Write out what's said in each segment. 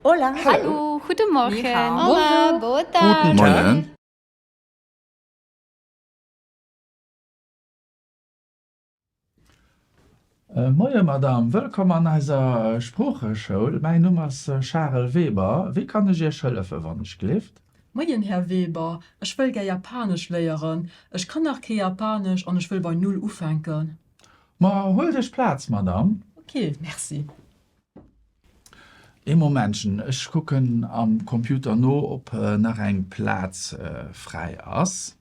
Hola. Hallo. Guten Morgen. Ni hao. Hola. Bonjour. Guten Morgen. Moien Madame, wëllkomm an eiser Sproocheschoul. Mäin Numm ass Charel Weber. Wéi kann ech Iech hëllefen, wann ech gleeft? Moien Här Weber, ech wëll gär Japanesch léieren. Ech kann nach kee Japanesch an ech wëll bei Null ufänken. Ma huelt Iech Plaz, Madame. Ok, merci. Ee Momentchen, ech kucken am Computer no, ob nach eng Plaz fräi ass.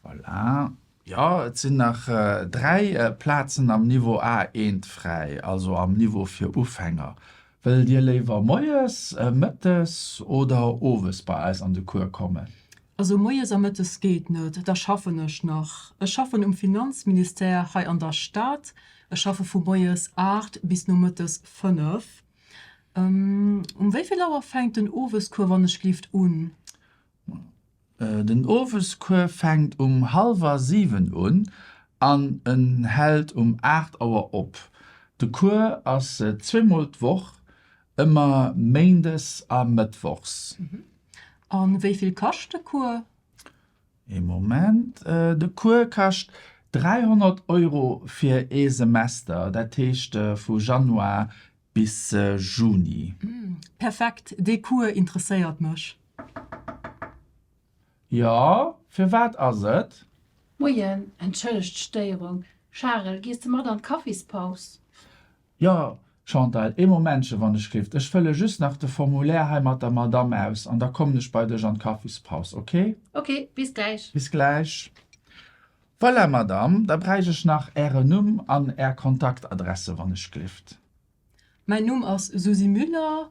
Voilà. Jo, et sinn nach dräi Plazen am Niveau A eent fräi, also am Niveau fir Ufänger. Wëllt Dir léiwer moies, mëttes oder owes bei eis an de Cours kommen? Also moies a mëttes geet net, da schaffen ech nach. Ech schaffen um Finanzministère hei an der Stad, Ech schaffe vu moies 8 bis nomëttes 5. Um wéivill Auer fänkt den Owescours wann ech lift un? Den Owescours fänkt um halwer 7 un an en hält um 8 Auer op. De Cours ass zweemol d'Woch, ëmmer méindes a mëttwochs. A wéivill kascht de Cours? Ee Moment, de Cours kascht 300 Euro fir ee Semester, dat heescht vu Januar bis Juni. Perfekt, dee Cours interesséiert mech. Jo, firwat ass et? Moien, entschëllegt d'Stéierung. Charel, gees de mat an d'Kaffispaus? Jo, Chantal, ee Momentche, wann ech géif. Ech fëlle just nach de Formulaire hei mat der Madamm aus an da kommen ech bei dech an d'Kaffispaus, ok? Ok, bis gläich. Bis gläich. Voilà, Madamm, da bräich ech nach Ären Numm an Är Kontaktadresse, wann ech gléft. Mäin Numm ass Susy Müller.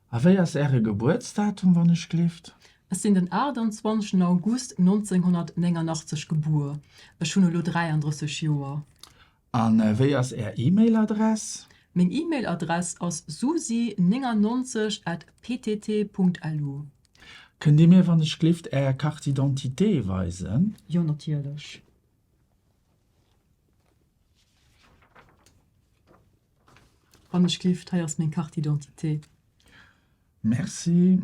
A wéi ass Äre Gebuertsdatum, wann ech gleeft? Ech sinn den 28 August 1989 gebuer. Ech hunn elo 33 Joer. A wéi ass Är E-Mail-Adress? Meng E-Mail-Adress ass susi 99 at ptt.lu. Kënnt Dir mir, wann ech gleeft, Är Carte d'identité weisen? Jo, natierlech. Wann ech gift, hei ass meng Carte d'identité. Merci,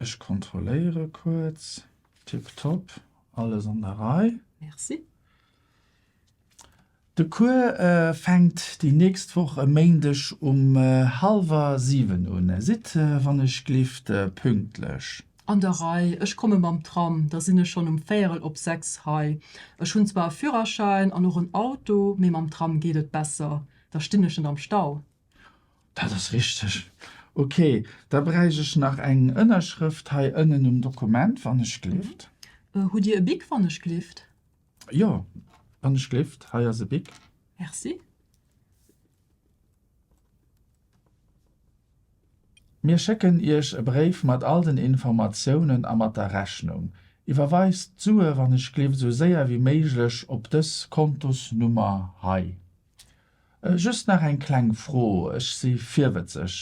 ech kontrolléiere kuerz. Tiptop, alles an der Rei. Merci. De Cours fänkt déi nächst Woch e Méindeg um halwer 7 un. Sidd, wann ech glift, pünktlech. An der Rei, ech komme mam Tram, da sinn ech schonn um véierel op sechs hei. Ech hunn zwar e Führerschäin an och en Auto, mee mam Tram geet et besser, da stinn ech net am Stau. Dat ass richteg. Ok, da bräicht ech nach eng Ënnerschrëft hei ënnen um Dokument, wann ech gleeft. Hutt Dir e Bic, wann ech gleeft? Jo, wann ech gleeft, hei ass e Bic. Merci. Mir schécken Iech e Bréif mat all den Informatiounen a mat der Rechnung. Iwwerweist d'Sue wann ech gleeft esou séier wéi méiglech op dës Kontosnummer hei. Just nach eng kleng Fro, ech si virwëtzeg,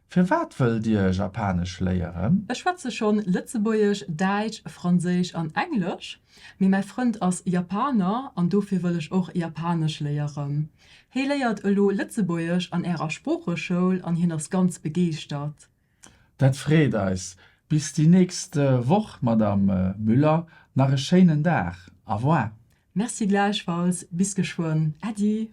Firwat wëllt Dir Japanesch léieren? Ech schwätze schonn Lëtzebuergesch, Däitsch, Franséisch an Englesch. Mee mäi Frënd ass Japaner an dofir wëll ech och Japanesch léieren. Hee léiert elo Lëtzebuergesch an Ärer Sproocheschoul an hien ass ganz begeeschtert. Dat freet eis. Bis déi nächst Woch, Madamm Müller, nach e schéinen Dag. Au revoir. Merci gläichfalls. Bis geschwënn. Äddi.